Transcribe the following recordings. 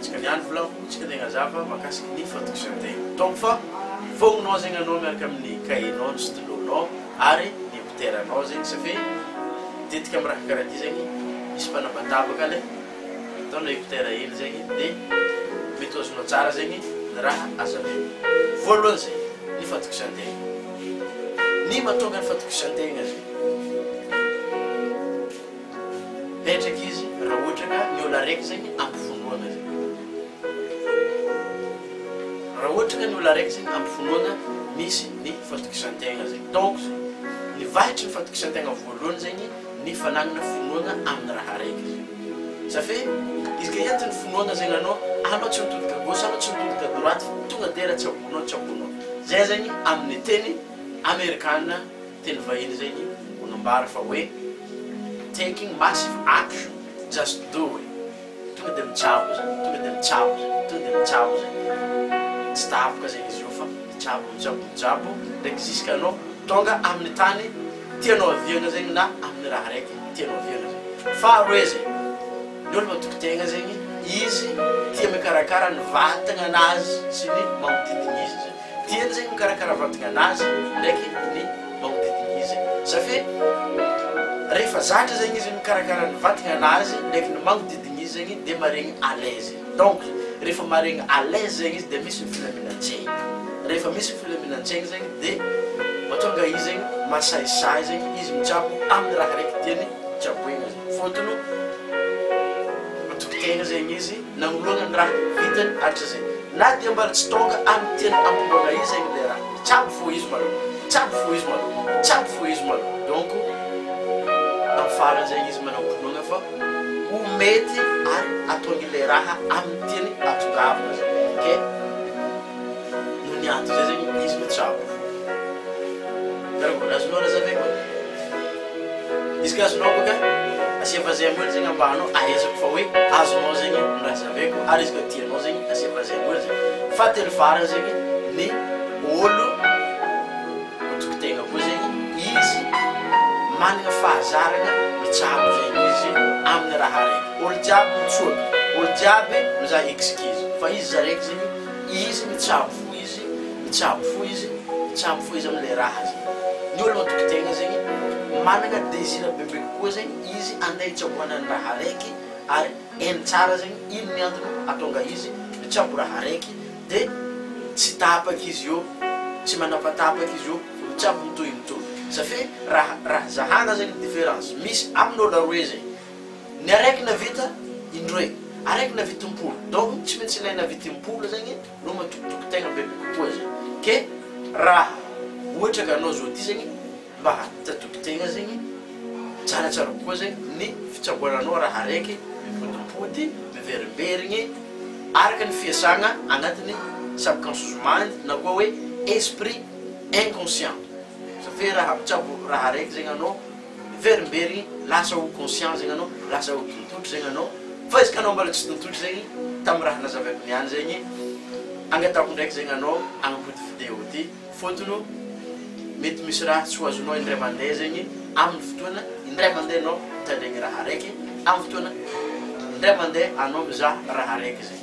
Tsika ny andro volako, tsika tegna zava makasiky ny fatokisan-tegna. Donc fa hivognognao zegny anao miaraka amin'ny cahier-nao, ny stylo-nao ary ny mpitera-nao zegny safe tetika amin'ny raha karaha ty zegny misy mpanabataba le ataonao écouteur hely zegny de mety ho azonao tsara zegny ny raha azo alaigna. Voalohany zay ny fatokisan-tegna. Ny mahatonga ny fatokisan-tegna zegny. Petraka izy raha ohatra ka ny olona araiky zay ny ampivonoana zay. Raha ohatra ka ny olona araiky zay ny ampivonoana misy ny fatokisan-tegna zay. Donc zay, ny vahitry ny fatokisan-tegna voalohany zay ny ny fanagnana finoana amin'ny raha araiky zay. Ça fait, izy ka entin'ny finoana zay anao, anao tsy mitodika à gauche, anao tsy mitodika à droite fa tonga dera tsy abono ao, tsy abono ao. Zay zay ny amin'ny teny amerikana Teny vahiny izay ny manambara fa hoe taking massive action just do it tonga dia mitsabo izy, tonga dia mitsabo izy, tonga dia mitsabo izy, tsy tapoka zegny izy io fa mitsabo, mitsabo, mitsabo ndraiky zisk'anao tonga amin'ny tany tianao haviagna zegny na amin'ny raha araiky tianao haviagna zegny. Faharoe zay, ny olo matoky tegna zegny izy tia mikarakara ny vatagnanazy sy ny magnodidigny izy zegny. Dieny izay mikarakara fandringana azy ndraiky ny manodidina izy. Safe rehefa zatra zegny izy mikarakara ny vatagnana azy ndraiky ny magnodidina izy zegny dia maregny à l'aise. Donc rehefa maregny à l'aise zegny izy dia misy ny filaminan-tsaigny. Rehefa misy ny filaminan-tsaigny zegny dia mahatonga izy zegny masahisahy zegny izy mitsabo amin'ny raha araiky tiany tsaboina zegny. Fôtony matoky tegna zegny izy. Nanoloana ny raha vitany hatratra izay. Na dia mbola tsy tonga amin'ny tena ampinoana izy ainy ilay raha. Tsabo fo izy malou. Tsabo fo izy malou. Tsabo fo izy malou. Donc, amin'ny farany izay izy manao ampinoana fa ho mety ary hatonga ilay raha amin'ny teny ahatongavana izay. Ok? Noho ny antony izay zegny izy no tsabo. Karaha mbola azonao razavy koa. Izy ka azonao bôka asia vazaha moly zegny ambahanao ahaizako fa hoe azonao zegny ny razaveko ary izy ka tianao zegny asia vazaha moly zegny. Fahatelo farany zegny ny ôlo matoky tegna koa zegny izy managna fahazaragna mitsabo zegny izy amin'ny raha araiky. Ôlo jiaby mitsoaka, ôlo jiaby mizaha excuse fa izy izy araiky zegny. Izy mitsabo fo izy mitsabo fo izy mitsabo fo izy amle raha zegny ny olo matoky tegna zegny managna désir bebe kokoa zegny izy ande hitsaboana ny raha araiky ary hainy tsara zegny ino ny antony atonga izy mitsabo raha araiky de tsy tapaka izy io tsy manapatapaka izy io mitsabo mitohy mitohy ça fait raha raha zahana zegny différence misy aminy olo aroe zegny Ny araiky navita indroe, araiky navita impolo, donc tsy maintsy ilay navita impolo zegny no matokitoky tegna bebe kokoa zay, ke raha ohatra ka anao zao ty zegny mba hatatoky tegna zegny tsaratsara kokoa zegny ny fitsaboananao raha araiky mipodimpody, miverimberigny araka ny fiasagna agnatin'ny subconscious mind na koa hoe esprit inconscient, satria raha mitsabo raha araiky zegny anao. miverimbery igny, lasa ho conscient zegny anao, lasa ho tontotry zegny anao, fa izy ka anao mbola tsy tontotry zegny, tamin'ny raha nazavaiko niany zegny, angatahako ndraiky zegny anao hagnapody video ty, fôtony mety misy raha tsy ho azonao indray mandeha zegny, amin'ny fotoana indray mandeha anao mitandregny raha araiky, amin'ny fotoana indray mandeha anao mizaha raha araiky zegny.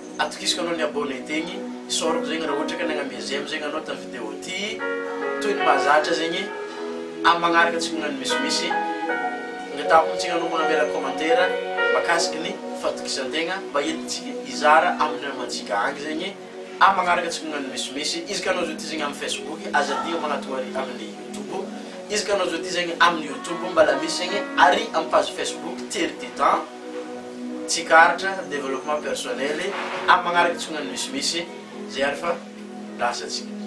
Atokisiko anao ny abonné tegny isaorako zegny ra ohatra ka nagname j'aime zegny anao tam vidéo ty toy ny mahazatra zegny am magnaraka tsy magnano misimisy angatahapo tsika anao magnamela commentaire makasiky ny fatokisantegna mba entintsika izara aminy namantsika agny zegny am magnaraka tsy magnano misimisy izy ka anao zao ty zegny am facebook aza andiho magnatogno ary aminy youtube izy ka anao zao ty zegny aminy youtube mbala misy zegny ary am page facebook tery ty tan Tsikaritra, développement personnel, amin'ny magnaraka itsongan'ny misimisy, zay ary fa lasa tsika.